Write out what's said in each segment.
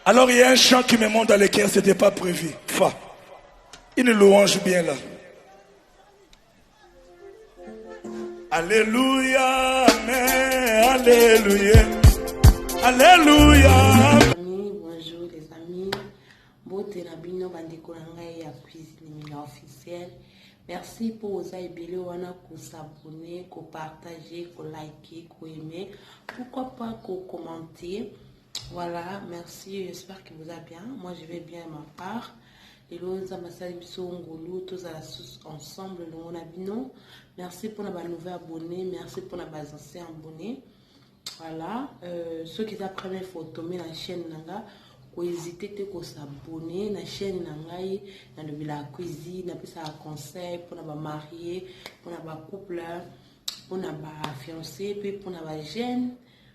Alors il y a un chant qui me monte dans le cœur, c'était pas prévu. Fa. Une louange bien là. Alléluia, Amen, Alléluia, Alléluia. Amis, bonjour les amis. Bote na bino bandeko na ngai ya cuisine na officiel. Merci pour oza ebele wana ko s'abonner, ko partager, ko liker, ko aimer. Pourquoi pas ko commenter? Voilà, merci, j'espère que vous allez bien. Moi, je vais bien ma part. lelo nzambe asali biso ngolu tozala susu ensemble elongo na bino merci mpona banouveau abonné merci mpona baancien abonné voilà euh, soki eza première fois otombe na chaîne na nga kohésite te kosabonne na chaîne na ngai nalobelaka cuisine napesaka conseil mpona bamarie mpona bacouple mpona bafiancé mpe mpona bajeune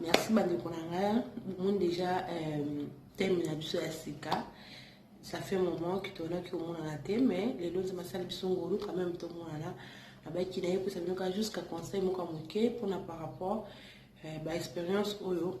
merci bandeko na ngai bomoni déjà euh, teme na biso ya sika ça fait moment que toyonaki komonana te mais lelo nzambe asali biso ngolu quand même tomonana abaki na ye mpesa bino kaka jusqu'à conseil moko ya moke mpona par rapport euh, baexpérience oyo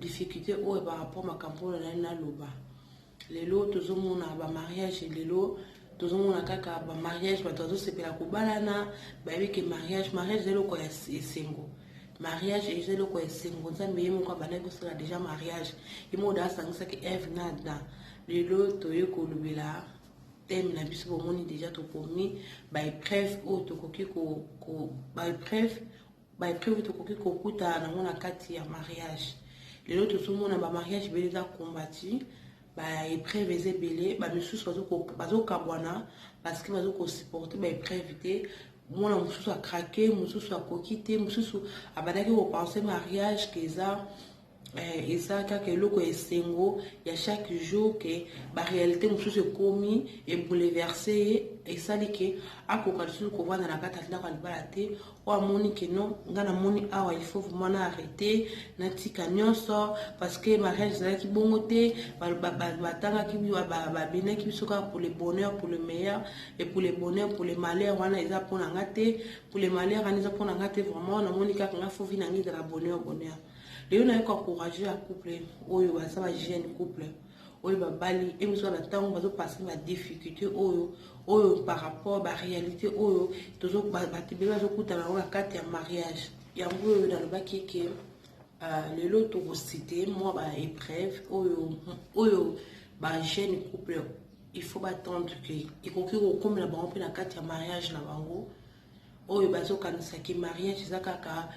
difficulte oyo par rapport makambo oyo nazali naloba lelo tozomona ba mariage lelo tozomona kaka ba mariage bato bazosepela kobalana bayebi ke mariage mariage eza eloko ya esengo mariage eza eloko ya esengo nzambe ye moko abandaki kosala deja mariage ye moko da asangisaki eve na ada lelo toye kolobela teme na biso bomoni deja tokomi baepreuve oyo tokoki baepreuve ba epreuve tokoki kokutana nango na kati ya mariage lelo tozomona ba mariage ebele eza combati ba epreuve eza ebele bamisusu bazokabwana parceke bazokosupporte ba epreuve te mwana mosusu akrake mosusu akoki te mosusu abandaki kopense mariage ke eza eh, eza kaka eloko ya esengo ya chaque jour ke baréalité mosusu ekomi ebouleverse ye esali ke akoka lisusu kovanda na kati ya ndako ya libala te oyo amoni ke non ngai namoni awa il faut vraiment na arrete natika nyonso parce que mariage ezalaki bongo te batangaki babinaki biso kaka pour le bonheur pour le meilleur et pour le bonheur pour le malheur wana eza mpo na ngai te pour le malheur wana eza mpo na ngai te vraiment namoni kaka ngai fo vi na ngai ezala bonheur bonheur lelo nayoki encourage ya couple oyo baza ba jeune couple oyo babali emiswa na ntango bazopase na difficulté oyo oyo par rapport baréalité oyo bato ebele bazokutana yango na kati ya mariage yango oyo nalobaki ke euh, lelo tokosite mwa baépreuve oyo oyo bajeune couple il faut batendre ke ekoki kokomela bango mpe na kati ya mariage na bango oyo bazokanisa ke mariage eza kaka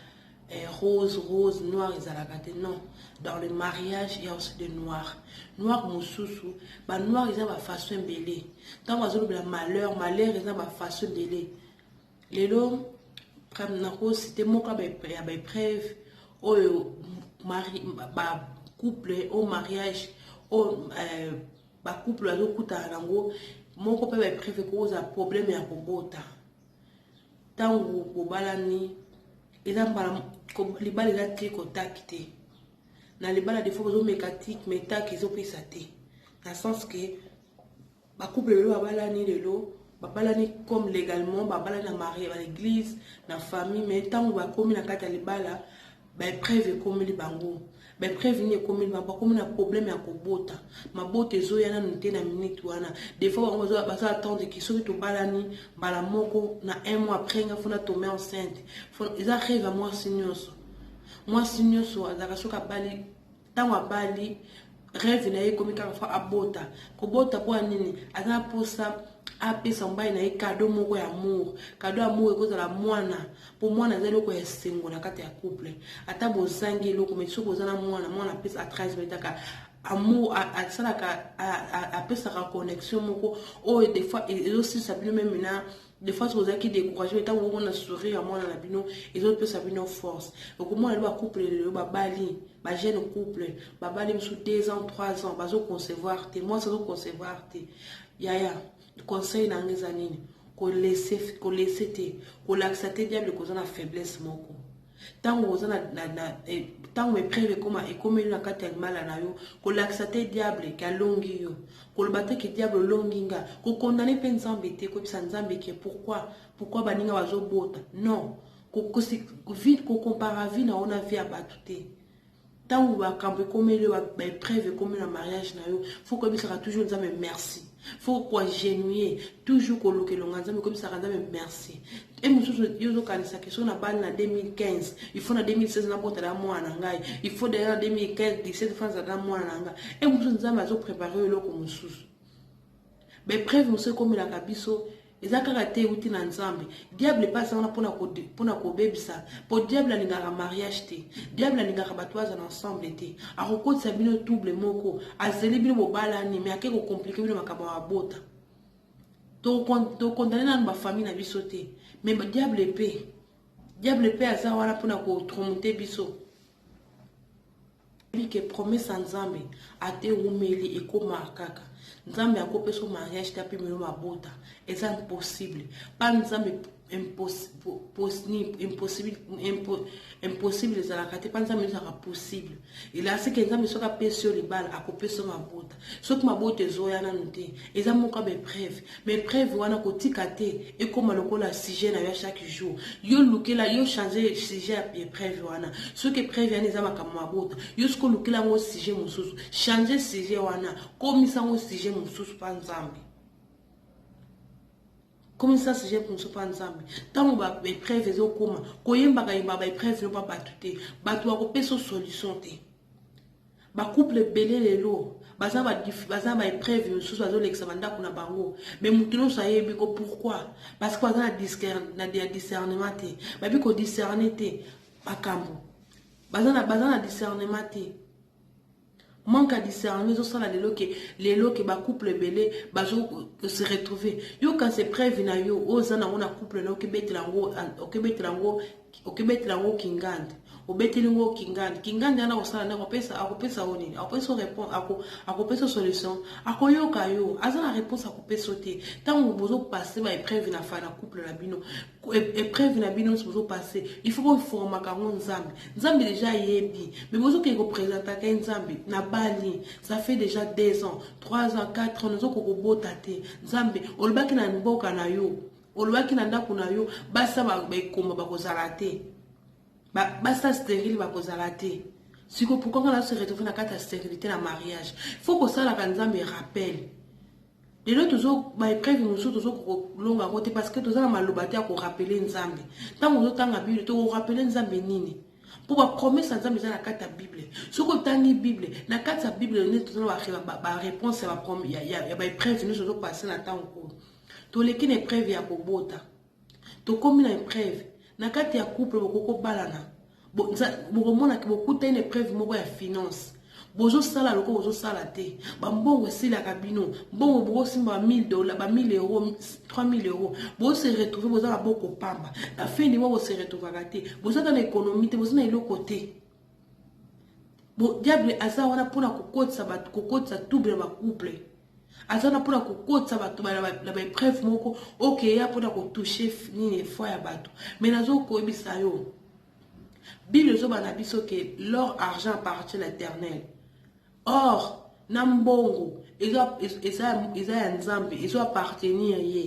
eh, rose rose noir ezalaka te non dans le mariage ya aussi de noir noir mosusu banoir eza bafaçon ebele ntango azolobela malheur malheur eza bafaçon ebele lelo nakosite moko ya baepreuve oyo couple au mariage oyo eh, ba couple bazokutana nango moko mpe baepreuve ekoza problème ya kobota ntango bobalani eza mbala libala eza te kotaki te na libala defo bozomeka tik me tak ezopesa te na sens ke bacouple lelo babalani lelo babalani comme légalement babalani na marie na l'église na famille me ntango bakomi na kati ya libala ba epreuve ekomeli bango ba epreuve nini ekomeli bango bakomi na problème ya kobota mabota ezoya nanu te na minute wana des fois bango bazo attendre ki soki tobalani mbala moko na un mois après nga fona tombe enceinte eza rêve ya mwasi nyonso mwasi nyonso azalaka soki abali Tango abali rêve na ye ekomi kaka fa abota kobota mpo ya nini aza na mposa apesa mobali na ye kado moko ya amour kado ya amour ekozala mwana mpo mwana aza eloko ya esengo na kati ya couple ata bozangi eloko mai soki oza na mwana mwana apesa atransmetaka amour asalaka apesaka connexion moko oyo des fois ezosilisa bino meme na de fois oza ki découragé mais tango bomona sourire ya mwana na bino ezopesa bino force okomona lelo bacouple lelo babali ba jeune couple babali mosusu 2 ans 3 ans bazoconcevoir te mwasi azoconcevoir te yaya conseil na nga eza nini kolese kolese te kolakisa te diable koza na faiblesse moko ntango oza ntango epreve ekoma ekomeli na kati ya libala na yo kolakisa te diable ke alongi yo koloba te ke diable olongi nga kokondane mpe nzambe te koyebisa nzambe ke pourkui pourkui baninga bazobota non kokompara vi na yo na vi ya bato te Tangu makambo ekomeli yo ba epreuve ekomi na mariage na yo faut koyebisaka toujours Nzambe merci faut ko agenouiller toujours koluka elonga Nzambe koyebisaka Nzambe merci e mosusu yo ozokanisa ke soki nabali na 2015 il faut na 2016 nabotala mwana na ngai il faut deja na 2015 17 fois nazala na mwana na ngai e mosusu Nzambe azoprepare yo eloko mosusu baepreuve mosusu ekomelaka biso eza kaka te euti na nzambe diable mpe aza wana mpona kobebisa mpo diable alingaka mariage te diable alingaka bato baza na ensemble te akokotisa bino double moko azeli bino bobalani me ake kokomplike bino makambo ya mabota tokondane nanu bafamille na biso te me diable mpe diable mpe aza wana mpona kotromote biso Oyebi que promesse ya nzambe ata ewumeli ekomaka kaka nzambe ako pesa yo mariage te apema yo mabota eza impossible pa nzambe impossible ezalaka te pa nzambe ezalaka possible elasi ke nzambe soki apesi yo libala ako pesa yo mabota soki mabota ezoya nanu te eza moko ya baepreuve baepreuve wana kotika te ekoma lokola sujet na yo chaque jour yo lukela yo change sujet ya epreuve wana soki epreuve yani eza makambo mabota yo soki olukela yango sujet mosusu change sujet wana komisa yango sujet mosusu mpa nzambe komisa sujet mosusu mpa nzambe ntango baepreuve ezokoma koyembaka yemba baepreuve no mpa bato te bato bakopesa solution te Ba couple ebele lelo baza ba baza ba epreuve misusu bazo lekisa ba ndako na bango mais mutu nyonso ayebi ko pourquoi parce que baza na discer na ya discernement te babi ko discerner te makambo baza na baza na discernement te manque ya discernement ezosala lelo ke lelo ke ba couple ebele bazo se retrouver yo kasi epreuve na yo oyo oza nango na couple na okebetela yango okebetela yango Okebetela yango kingandi. Obeteli ngo kingandi. Kingandi wana akosala nde akopesa akopesa yo nini? Akopesa yo réponse ako akopesa solution. Akoyoka yo. Aza na réponse akopesa yo te. Tango bozo passer ba épreuve na fa na couple na bino. Épreuve na bino nso bozo passer. Il faut bo formaka yango Nzambe. Nzambe déjà ayebi. Mais bozo ke ko presenta ke Nzambe na bali. Ça fait déjà 2 ans, 3 ans, 4 ans nozo ko kobota te. Nzambe olobaki na mboka na yo. Olobaki na ndako na yo basi na baekomba bakozala te, basi na sterile bakozala te. Siko pourquoi nga na se retrouver na kati ya sterilité na mariage? Faut kosalaka Nzambe rappel. lelo tozo baepreuve mosusu tozo kolonga yango te parce que toza na maloba te ya korapele nzambe ntango ozotanga bible tokorapele nzambe nini mpo bapromese ya nzambe eza na kati ya bible soki otangi bible na kati ya bible nde toza na bareponse ya baepreuve nyonso ozopase na ntango oyo Toleki na epreuve ya kobota. Tokomi na epreuve. Na kati ya couple bokoki kobalana. Bokomona ke bokutani na epreuve moko ya finance. Bozosala lokola bozosala te. Bambongo esilaka bino. Mbongo bokosimba ba 1000 dollars, ba 1000 euros, 3000 euros. Bozo se retrouver boza na boko pamba. Na fin du mois bo se retrouvaka te. Boza ata na economie te, boza na eloko te. Bo diable aza wana pona kokotisa bato kokotisa tube na ba couple aza wana pona kokotisa bato na ba epreuve moko okeya pona kotouche nini foi ya bato mais nazokoyebisa yo bible ezoba na biso ke l'or argent appartient na éternel Or na mbongo eza eza eza ya Nzambe ezo appartenir ye.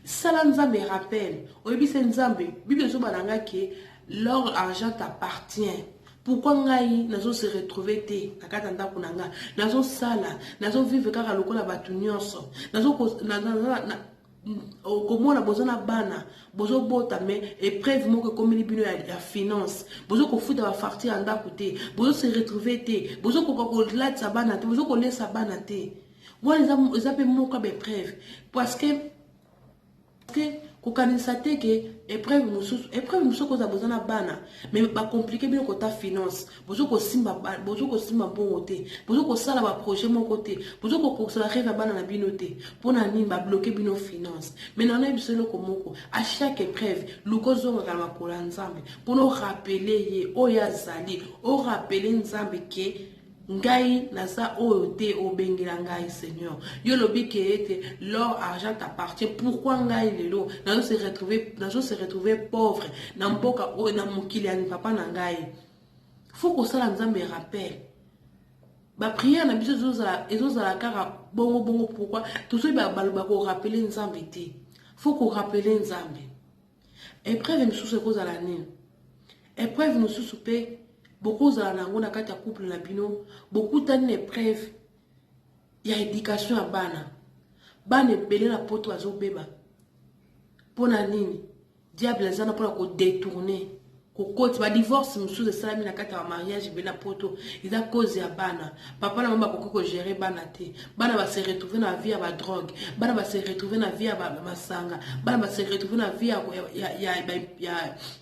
Sala Nzambe rappel, oyebise Nzambe Bible ezoba na nga ke l'or argent t'appartient. Pourquoi ngai nazo se retrouver te na kati ya ndako na nga, nazo sala, nazo vivre kaka lokola bato nyonso, nazo ko na, na, na, na okomona boza na bana bozobota me epreuve moko ekomeli bino ya, ya finance bozo kofuta bafarti ya ndako te bozo se retrouve te bozokoka kolatisa bana te bozo kolesa bana te wana eza mpe moko ya baepreuve parce que kokanisa te ke epreuve mosusu epreuve mosusu okozala boza na bana me bacomplike bino kota finance bozo kosimba bozo kosimba mbongo te bozo kosala baprojet moko te bozo kokokisa bareve ya bana na bino te mpo na nini babloke bino finance mai na nayebisa eloko moko a chaque épreuve luka ozongaka na makolo ya nzambe mpona orapele ye oyo azali orapele nzambe ke ngai naza oyo te obengela ngai seigneur yo olobi ke ete l'or argent t'appartient pourquoi ngai lelo nazo se retrouver pauvre na mboka oyo na mokili ya papa na ngai faut kosala nzambe rappel bapriere na biso ezozala kaka bongo bongo pourkui tozoyi baloba korapele nzambe te fo korapele nzambe epreuve mosusu ekozala nini epreuve mosusu mpe bokozala na yango na kati ya couple na bino bokutani na epreuve ya education ya bana bana ebele na poto bazobeba mpo na nini Diable aza na pona ko detourner kokoti ba divorce mosusu esalami na kati ya mariage ebele na poto eza cause ya bana papa na bango bakoki kogere bana te bana base retrouve na vie ya badrogue bana base retrouve na vie ya masanga bana base retrouve na vie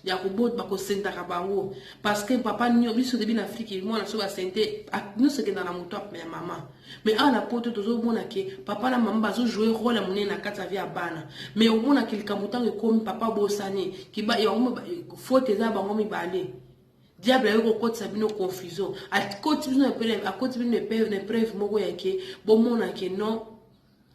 ya kobot bakosentaka bango parce que papa biso debi na afriki mwana soki asente nyonso ekenda na moto ya mama mais awa na poto tozomona ke papa na mama bazojoue role ya monene na kati ya vie ya bana mais omona ke likambo ntango ekomi papa abosani faute eza ya bango mibale diable ayoki kokotisa bino confusion akoti bino na epreuve moko yake bomona ke non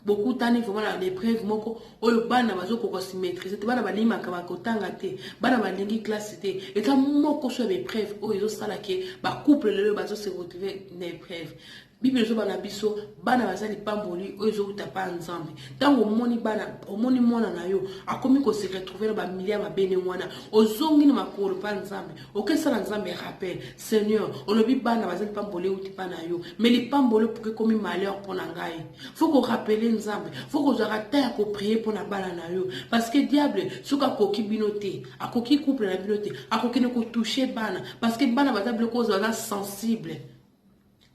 bokutani vraiment na epreuve moko oyo bana bazokoka si maîtrise te bana balimaka bakotanga te bana balingi classe te eza moko so ya baepreuve oyo ezosala ke bacouple lelo bazose retrouve na epreuve bible ezoba na biso bana baza lipamboli oyo ezowuta mpa nzambe ntango omoni bana omoni mwana na yo akomi kose retrouve na bamilia mabe ndenge wana ozongi na makolo mpa nzambe okesala nzambe rappel seigneur olobi bana baza lipamboli euti mpa na yo mai lipamboli opuki ekomi malheur mpo na ngai fo korapele nzambe fo kozwaka ta ya koprie mpo na bana na yo parceke diable soki akoki bino te akoki couple na bino te akokende kotouche bana parceke bana baza biloko oyo baza sensible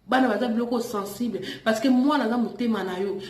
bana baza biloko sensible parce que mwana aza motema na yo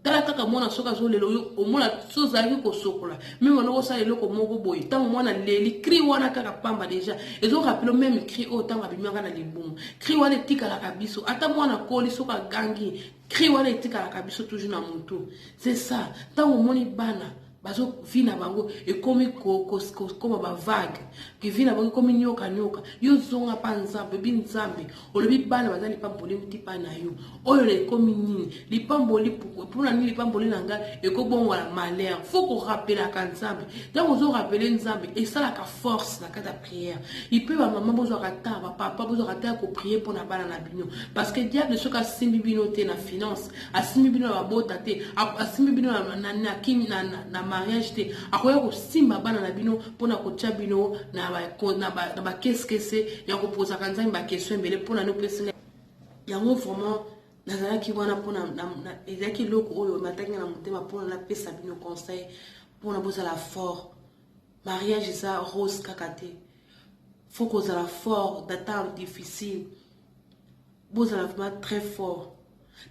tala kaka mwana soki azolela oyo omona so ozalaki kosokola meme wana okosala eloko moko boye ntango mwana leli cri wana kaka pamba deja ezorapelo meme cri oyo ntango abimaka na libumu cri wana etikalaka biso ata mwana akoli soki agangi cri wana etikalaka biso toujours na motu c'est ça ntango omoni bana bazo vie na bango ekomi kokoma bavague ke vie na bango ekomi nyoka nyoka yo zonga mpa nzambe bi nzambe olobi bana baza lipamboli euti mpa na yo oyo na ekomi nini lipamboli mpona nini lipamboli na ngai ekobongola malheur fo korapelaka nzambe ntango ozorapele nzambe esalaka force na kati ya prière ipe bamama bozwaka ntango bapapa bozwaka ntango ya koprie mpo na bana na bino parce que diable soki asimbi bino te na finance asimbi bino na babota te asimbi bino na mariage te akoya kosimba bana na bino mpona kotya bino na bakeskese ya kopozaka nzambe bakestion ebele mpona nopesi yango vraiment nazalaki wana mpona ezalaki eloko oyo mataki na motema mpona napesa bino conseil mpona bozala fort mariage eza rose kaka te fo kozala fort data difficile Bozala vraiment très fort.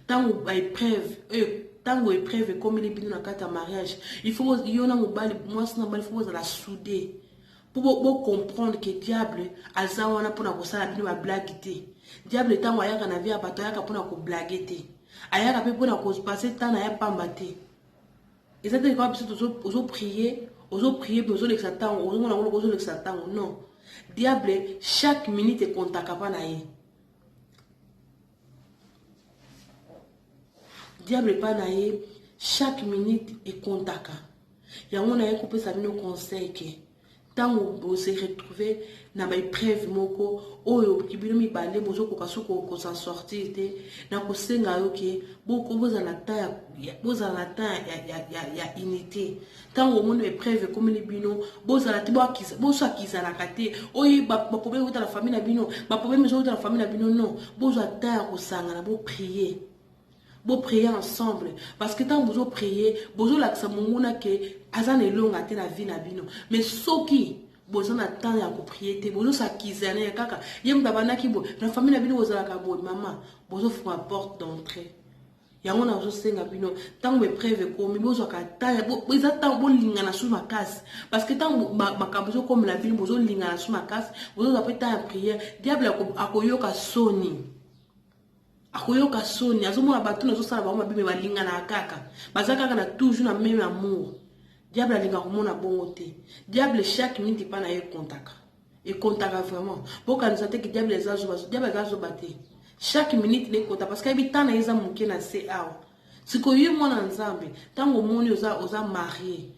Tango ba epreuve, oyo tango epreuve ekomeli bino na kati ya mariage, il faut yo na mobali, mwasi na mobali faut bozala soude. Pour bo, bo comprendre que diable aza wana pona kosala bino ba blague te. Diable tango ayaka na vie ya bato ayaka pona ko blague te. Ayaka pe pona ko passer temps na ya pamba te. Eza te kwa biso tozo ozo prier, ozo prier mais ozo lekisa tango, ozo mona ngolo ozo lekisa tango. Non. Diable chaque minute ekontaka pa na ye. diable epai na ye chaque minute ekontaka yango naye kopesa bino conseil ke ntango bose retrouve na baepreuve moko oyo bino mibale bozokoka so kokosa sortir te na kosenga yo ke bozala ta ya unité ntango omoni epreuve ekomeli bino bozala te bozwa kizalaka te oyo baproblème euta na famille na bino baproblème ezouta na famille na bino non bozwa temps ya kosangana boprie boprie ensemble parce que ntango bozoprie bozolakisa monguna ke aza na elonga te na vie na bino mais soki boza na temps ya koprie te bozosakizana ya kaka ye moto abandaki boye na famille na bino bozalaka boye mama bozofunga porte d'entrée yango nazosenga bino ntango baepreuve ekomi bozwaka taya eza ntango bolingana su makasi parceke ntango makambo ezokomela bino bozolingana su makasi bozozwa mpe ntango ya priere diable akoyoka soni akoyoka soni azomona bato nazosala bango mabe me balinganaka kaka baza kaka na toujours na meme amour diable alinga komona bongo te diable chaque minute epa na ye ekontaka ekontaka vraiment bokanisa te ki diable eza zoba diable aza zoba te chaque minute na ekota parce que ayebi temps na ye eza moke na se awa sikoyo ye mwana nzambe ntango omoni oza, oza marie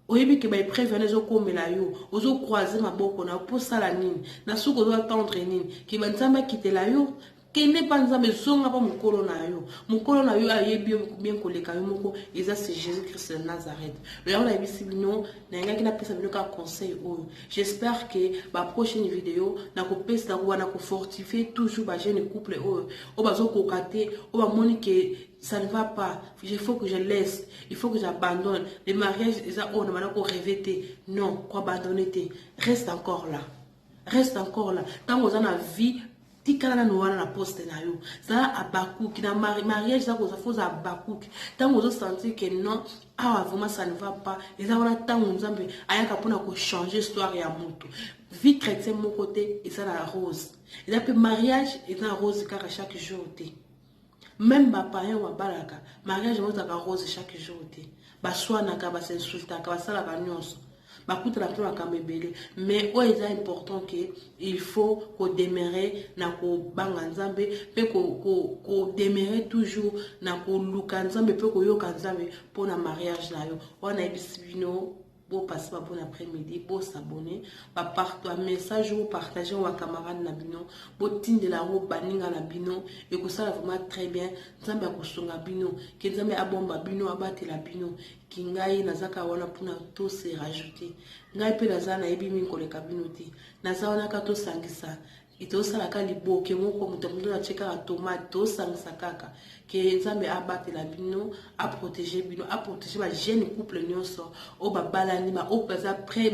oyebi ke baepreuve wana ezokomela yo ozokroise maboko na yo mpo osala nini na suka ozoatendre nini ke banzambe akitela yo Kende epa nzambe zonga pa mukolo na yo mukolo na yo ayebi yo bien koleka yo moko eza se jesus christ de nazareth lo yango nayebisi bino nayengaki napesa bino kaka conseil oyo j'espère que ba prochaine video nakopesa nakoba na kofortifie toujours ba jeune couple oyo oyo bazokoka te oyo bamoni ke ça ne va pas il faut que je laisse il faut que j'abandonne le mariage eza oyo na bana ko reve te non koabandonne te reste encore là Reste encore là. Tango oza na vie, tikala na noana na poste na yo. Za abakuki na mari, mariage za koza foza abakuki. Tango ozo sentir que non, awa vraiment ça ne va pas. Eza wana tango nzambe ayaka pona ko changer histoire ya mutu. Vie chrétien moko te eza na rose. Eza pe mariage eza rose kaka chaque jour te. Meme ba païens oyo babalaka, mariage yango ezalaka rose chaque jour te. Baswanaka, ba s'insultaka, basalaka nionso. Bakutana mpo na makambo ebele. Mais oyo eza important que il faut ko demeurer na kobanga Nzambe mpe ko, ko, ko demeurer toujours na koluka Nzambe mpe koyoka Nzambe mpo na mariage na yo. Wana nayebisi bino Bo passe ba bon après midi, bo s'abonner, ba part ba message ou partager wa camarade na bino, bo tindela ngo baninga na bino, ekosala vraiment très bien, Nzambe akosunga bino, que Nzambe abomba bino, abatela bino, ki ngai naza ka wana pona to se rajouter, ngai pe naza nayebi mingi koleka bino te, naza wana ka tosangisa et tozosala kaka liboke moko moto ya moto atie kaka tomate tozosangisa kaka ke nzambe abatela bino aprotege bino aprotege bajeune couple nyonso oyo babalani baoyo baza pre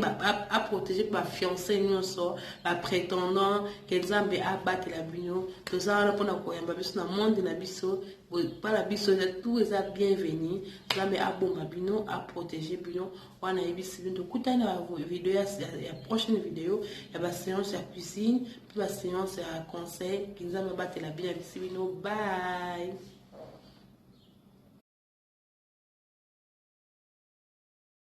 aprotege mpe bafiance nyonso bapretendant ke nzambe abatela bino toza wana mpona koyamba biso na monde na biso bana biso tout eza bienvenu nzambe abomba bino aprotege bino wana ayebisi bino tokutani na video ya, ya, ya prochaine video ya baseance ya cuisine mpe baseance ya conseil nzambe abatela bino abisi bino bye